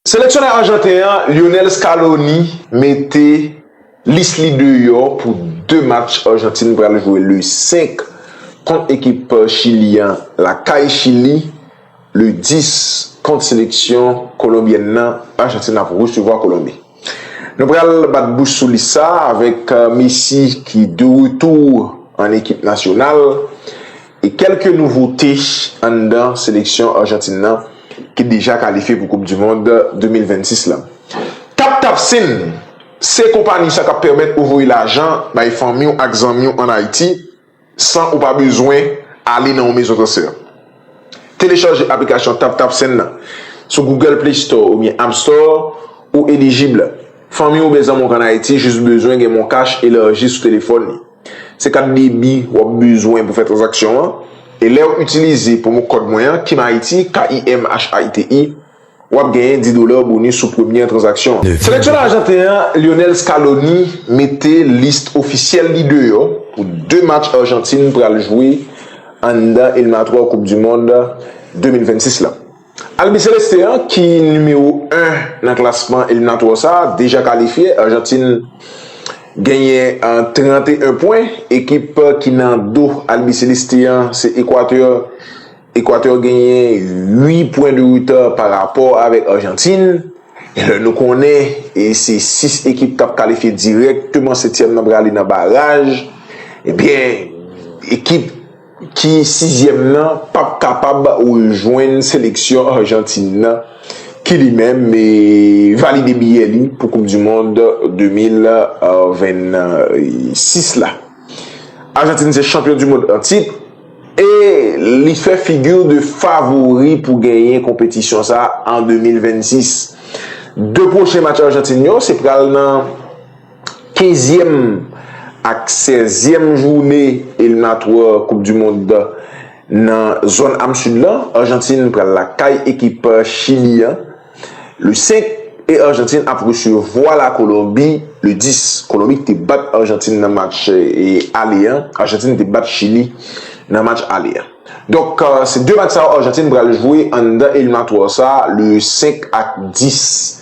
Seleksyonè Arjanten an Lionel Scaloni mete lis li deyò pou 2 match Arjantin pral jwe le 5 kont ekip Chili an lakay Chili le 10 kont seleksyon Kolonbyèn nan Arjantin ap resevwa Kolonbi. Nou pral bat bouch sou lis sa avèk Messi ki de retou an ekip nasyonal. E kèlke nouvote anndan seleksyon Arjantin nan ki deja kalifye pou koup du mond 2026 la. TapTapSend se konpani sa kap pèmèt ou voye lajan bay fanmiw ak zanmiw an Ayiti san ou pa bezwen ale nan yon mezon transfè. Telechaje aplikasyon TapTapSend nan sou Google Play Store oubyen App Store ou elijib. Fanmiw oubyen zanmiw k an Ayiti jis bezwen gen MonCash elarji sou telefòn li. Se kat debi wap bezwen pou fè tranzaksyon an, e lèw itilize pwomo kòd mwen an KIMHAITI, KIMHAITI, wap genyen 10 dollars bonus sou premyè tranzaksyon an. Seleksyonè ajanten an Lionel Scaloni mete list ofisyèl li deyò pou 2 match Argentine pral jwe anndan eliminatwè koup du mond 2026 la. Albi Celestin an ki nimewo 1 nan klasman eliminatwa sa deja kalifye, Arjantin genyen 31 pwen, ekip ki nan do Albi Celestin an se Ekwatè, Ekwatè genyen 8 pwen de reta pa rapò avèk Arjantin, lè nou konnen se 6 ekip kap kalifye dirèkteman 7 tièm nan prale nan baraj, ebyen ekip. ki sizyèm nan pap kapab rejwenn seleksyon Arjantin nan ki li menm valide biyè li pou koup du mond 2026 la. Arjantin se chanpyon du mond an tit e li fè figi de favori pou genyen konpetisyon sa an 2026. 2 pwochen match Arjantin yo se pral nan. Kenzyèm ak sèzyèm joune eliminatwa koup du mond nan zòn am Sid lan, Arjantin pral lakay ekip Chili an le 5 e Arjantin ap resevwa la Kolonbi le 10. Kolonbi ki te bat Arjantin nan match ale an, Arjantin te bat Chili nan match ale an. Donk se 2 match sa yo Arjantin pral jwe anndan eliminatwa sa le 5 ak 10.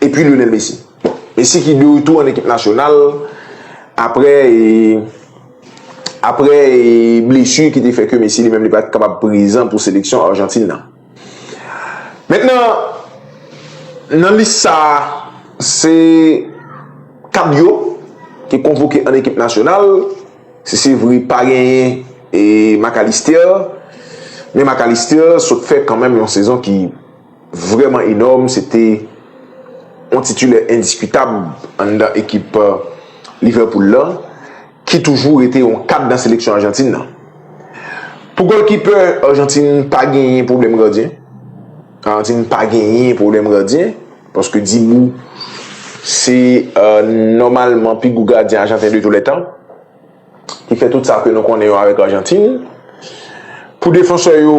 E pi Lionel Messi. Bon, Messi ki de retou an ekip nasyonal apre apre blesu ki te fè ke Messi li menm li pa te kapab prezan pou seleksyon Arjantin nan. Mentnan, nan lis sa a, se 4 yo ki konvoke an ekip nasyonal, si se vre pa genyen e Mac Allister, men Mac Allister sot fè kanmenm yon sezon ki vrèman enòm, se te yon titilè endiskutab anndan ekip Liverpool la, ki toujou rete yon kad nan seleksyon Ajantin nan. Pou gòlkipè Ajantin pa genyen pwoblèm gadyen, Ajantin pa genyen pwoblèm gadyen, paske Dibu se nòmalman pi gwo gadyen Ajanten de tou lè tan, ki fè tout sa ke nou konnen yo avèk Ajantin. Pou defansè yo.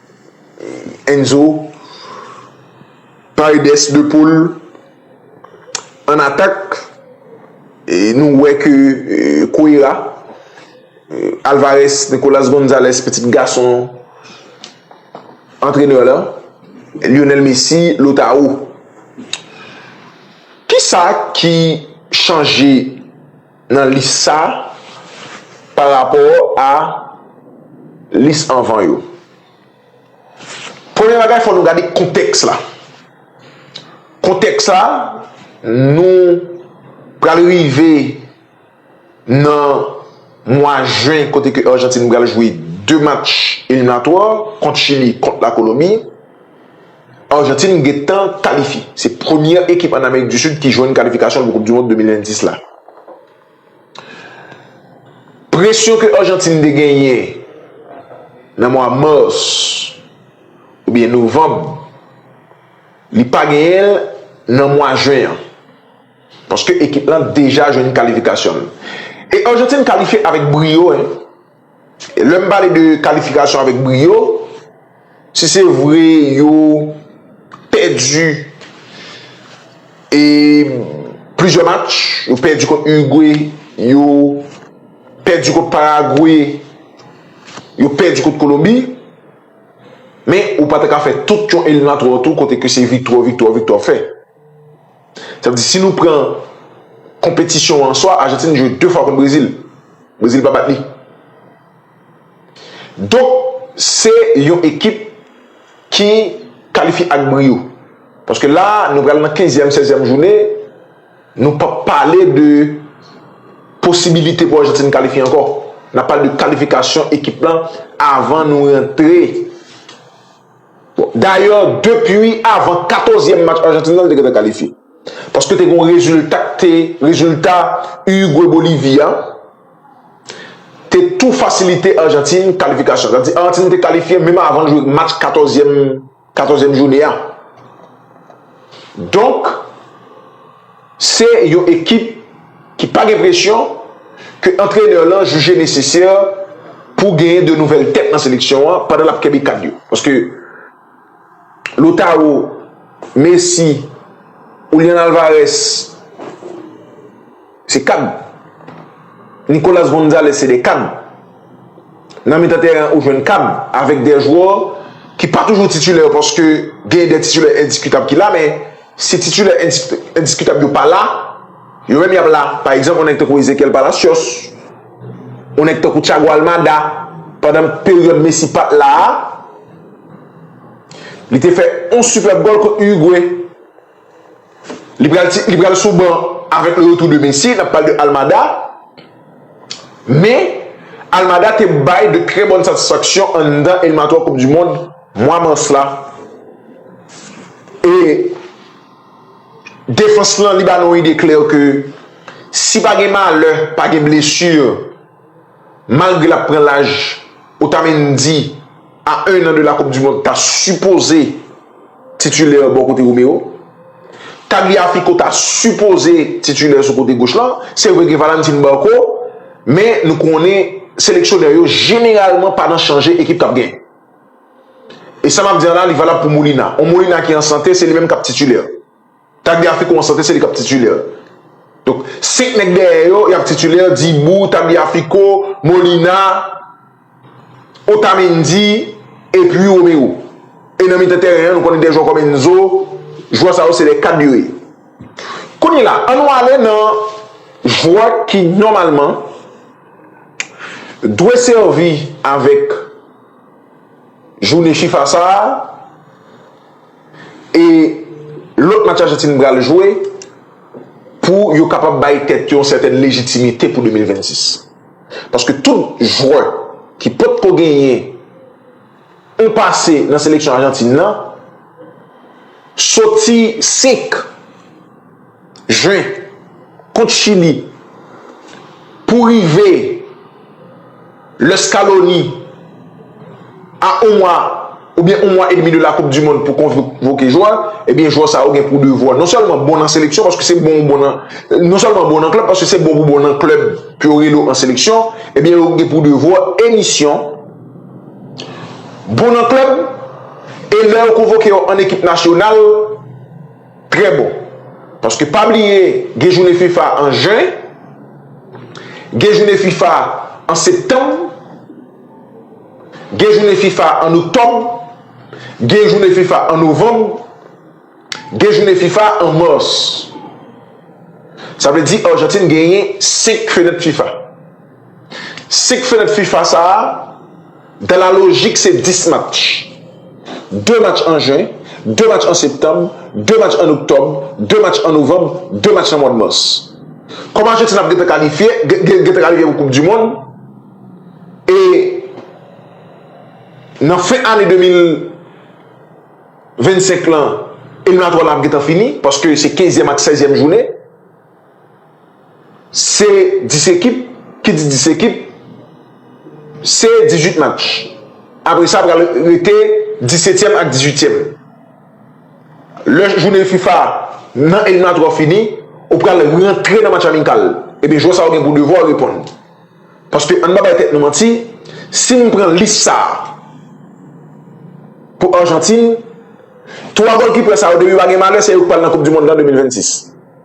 Enzo Paredes de Paul an atak e nou wè ke Cuera Alvarez Nicolas Gonzalez pitit gason antrenè la Lionel Messi Lautaro Kisa ki chanje nan lis sa a pa rapò a lis anvan yo. Premye bagay, fò nou gade kontèks la. Kontèks la, nou pral rive nan mwa jen kote ke Arjantin pral jwe 2 match eliminatwa kont Chili, kont Lakolonbi. Argentine gentan kalifye. Se premyè ekip an Amerik di Sid ki jwenn kalifikasyon l pou koup du mond 2026 la. Presyon ke Argentine te genyen nan mwa mars oubyen novanm li pa genyen l nan mwa juin an. Paske ekip lan deja jwenn kalifikasyon l. E Argentine kalifye avèk briyo hein. E lè m pale de kalifikasyon avèk briyo, si se vre yo pèdi e plizyè match, yo pèdi kont Urugwe, yo pèdi kont Paragwe, yo pèdi kont Kolonbi, men ou pa ta ka fè tout yon eliminatwa tou kote ke se viktwa, viktwa, viktwa fè. Sa vle di si nou pran konpetisyon an an swa, Ajantin jwe 2 fwa kont Brezil. Brezil pa bat li. Donk se yon ekip ki kalifye ak briyo. Paske la a nou pral nan kenzyèm, sèzyèm jounen, nou p ap pale de posibilite pou Ajantin kalifye ankò. N ap pale de kalifikasyon ekip lan avan nou rantre. Dayè depi avan katozyèm match Ajantin lan li te gentan kalifye. Paske te gen yon rezilta ki te, rezilta Uruguay Bolivie a te tou fasilite Ajantin kalifikasyon. Sa vle di Ajantin te kalifye menm avan l jwe match katozyèm, katozyèm joune a. Donk. Se yon ekip ki pa gen presyon ke antrenè lan jije nesesè pou genyen de nouvèl tèt nan seleksyon an pandan l ap kenbe kad yo. Paske Lautaro, Messi, Julian Alvarez se kad. Nicolas Gonzalez se de kad. Nan mitan tèren an ou jwenn Cam avèk de jwè ki pa toujou titulè paske gen de titulè endiskitab ki la men si titulè endiskitab yo pa la yo menm yap la pa egzanp yon nèg tankou Ezequiel Palacios yon nèg tankou Thiago Almada pandan peryòd Messi pat la li te fè yon sipèb gòl kont Uruguay. Li pral ti, li pral sou ban avèk le retou de Messi, nap pale de Almada, men Almada te bay de trè bòn satisfaksyon anndan eliminatwa koup du mond mwa mas la e defans lan li ba nou ide klè ke si pa gen malè, pa gen blesur. Malgre lap pran laj, Otamendi a 1 an de la koup du mond ta sipoze titulè bò kote Romero. Tagliafico ta sipoze titulè sou kote goch lan. Se vre gen Valentin Barco, men nou konnen seleksyonè yo jeneralman pa nan chanje ekip kap gen. E sa map di an la li valab pou Molina. On Molina ki an sante se li menm kap titulè. Tagliafico an sante se li kap titulaire. Donk 5 nèg dèyè yo yap titulaire Dibou, Tagliafico, Molina, Otamendi epi Romero. E nan mitan tèren an nou konnen 2 jwè kòm Enzo, jwè sa yo se de kad yo ye. Kounye la an nou ale nan jwè ki nòmalman dwe sèvi avèk jounen fifa sa a. E lòt match Ajantin pral jwe pou yo kapab bay tèt yo yon sètèn lejitimite pou 2026. Paske tout jwè ki potko genyen yon pase nan seleksyon Ajantin nan soti 5. Jen, kont Chili, pou rive lè Scaloni a on mwa oubyen on mwa edmi de la koup dimond pou konvoke jwè, ebyen jwè sa yo gen pou devwa non sèlman bon nan seleksyon paske se bon ou bon nan non sèlman bon nan klèb paske se bon pou bon nan klèb pou yo rele w an seleksyon ebyen yo gen pou devwa e misyon bon nan klèb e lè yo konvoke yo an ekip nasyonal. Trè bon. Paske pa bliye gen jounen fifa an jen, gen jounen fifa an septanm, gen jounen fifa an oktòb, gen jounen fifa an novanm, gen jounen fifa an mas. Sa vle di Arjantin genyen 5 fenèt fifa. Senk fenèt fifa sa a, dan la lojik se 10 match. De match an jen, de match an septanm, de match an oktòb, de match an novanm, de match nan mwad mas. Kòm Ajantin ap gentan kalifye, gentan kalifye pou koup dimond, e nan fen ane 2025 lan, eliminatwa lan ap gentan fini, paske se kenzyèm ak sèzyèm jounen, Se 10 ekip, ki di 10 ekip, se 18 match. Apre sa pral rete 17 tièm ak 18 tièm. Lè jounen fifa nan eliminatwa yo fini, ou pral rantre nan match amikal. Ebyen jwè sa yo gen pou devwa reponn. Paske ann pa bay tèt nou manti, si n pran lis sa a pou Argentine, 3 golkipè sa yo depi yo pa gen malè se yo k pral nan koup dimonn nan 2026.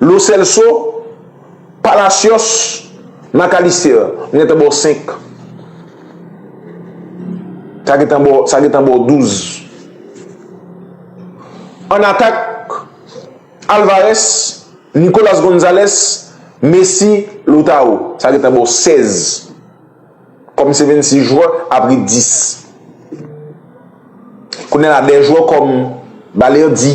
Lo Celso, Palacios, Mac Allister, nou gentan ba w 5. Sa gentan ba w, sa gentan ba w 12. An atak, Alvarez, Nicolas Gonzalez, Messi, Lautaro. Sa gentan ba w 16. Kòm se 26 jwè, apre 10. Kounye la, de jwè kòm Balerdi.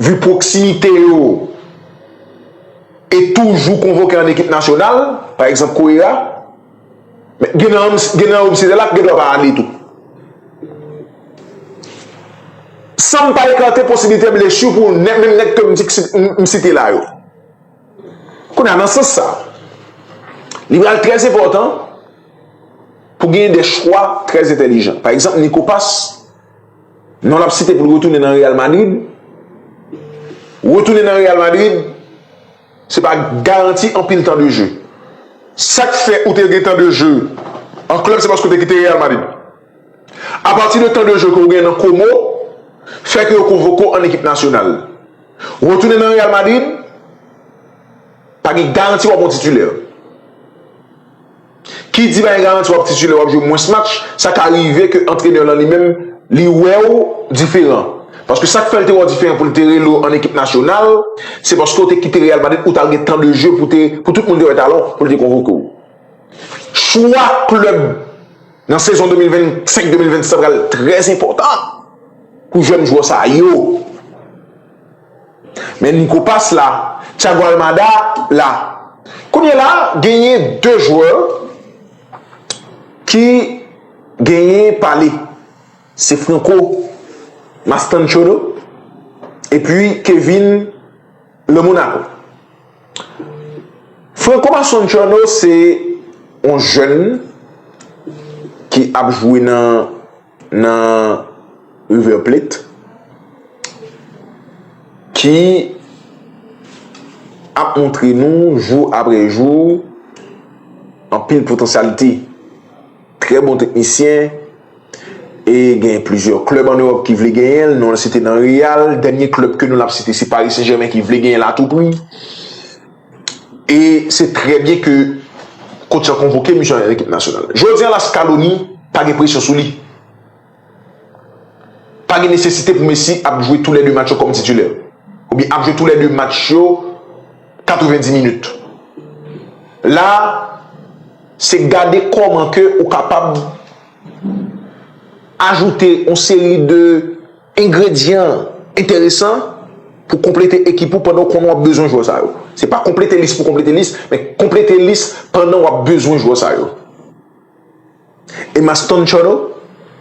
Vu pwoksimite yo e toujou konvoke an ekip nasyonal, pa egzanp Korea, men gen nan gen nan yo sila la k gen dwa pa ale tou. San m pa ekate posiblite blesu pou nè menm nèg ke m di k si m site la yo. Kounye a nan sans sa, li pral trè enpòtan pou gen de chwa trè entèlijan. Pa egzanp Niko Pas, Non l ap site pou l retounen nan Real Madrid. Retounen nan Real Madrid, se pa garanti anpil tan de je. Sa k fè ou te gen tan de je an klèb se paske ou te kite Real Madrid. Apati de tan de je ke ou gen nan Como, fè ke yo konvoke ou an ekip nasyonal. Retounen nan Real Madrid, pa gen garanti w ap yon titilè. Ki di bay garanti wap titulè wap jwe mwens match, sa ka rive ke antrenè lan li menm li wèw diferan. Paske sak fèl te wèw diferan poul te rele w an ekip nasyonal, se paske ou te kite Real Madrid ou tal gen tan de jeu pou te pou tout moun te wè talan w pou l te konvoke w. Chwa klèb nan sezon 2025, 2026 sa pral trè enpòtan pou jèn jwè sa yo. Men Nico pas la, Thiago Almada la. Kounye la genyen 2 jwè ki genyen pale. Se Franco Mastantuono epi Kevin Le Monaco. Franco Mastantuono se yon jèn ki ap jwe nan nan River Plate ki ap montre nou jou apre jou anpil potansyalite. Trè bon teknisyen e gen plizyè klèb an Ewòp ki vle genyen l. Nou an site nan Real, dènye klèb ke nou l ap site se Paris Saint Germain ki vle genyen l a tou pri. E se trè byen ke kotch la konvoke misye nan ekip nasyonal. Jodi an la Scaloni pa gen presyon sou li. Pa gen nesesite pou Messi ap jwe tou lè 2 match yo kòm titilè. Oubyen ap jwe tou lè 2 match yo 90 minit. La se gade kòman ke ou kapab ajoute yon seri de Engredyan enteresan pou konplete ekip ou pandan ou konnen w ap bezwen jwè sa yo. Se pa konplete lis pou konplete lis, men konplete lis pandan w ap bezwen jwè sa yo. Emma Stone Turner,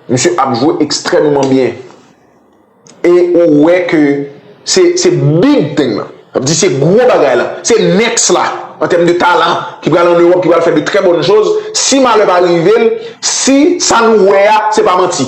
misye ap jwe ekstrèmeman byen. E ou wè ke se big thing lan. Sa vle di se gwo bagay lan. Se next la an tèm de talan ki pral an Ewòp, ki pral fè de trè bòn choz. Si malè pa rive l, si sa nou wè a se pa manti.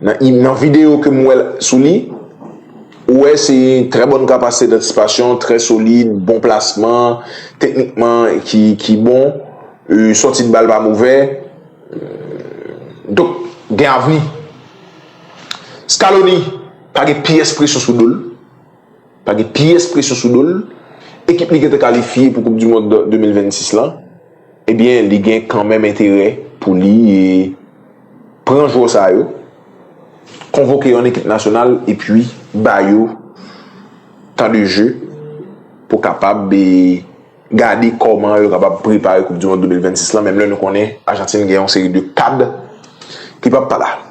Nan im nan video ke m wè l sou li ou wè se trè bòn kapasite dantisipasyon, trè solid, bon plasman, teknikman ki ki bon, sòti de bal pa movè. Donk gen avni. Scaloni pa gen pyès presyon sou do l. Pa gen pyès presyon sou do l. Ekip li gen te kalifye pou koup dimond 2026 lan. Ebyen li gen kanmenm enterè pou li pran jwè sa yo, konvoke yo an ekip nasyonal epi ba yo tan de je pou kapab gade kòman yo kapab prepare koup dimond 2026 lan menm lè nou konnen Ajantin gen yon seri de kad ki pap pa la.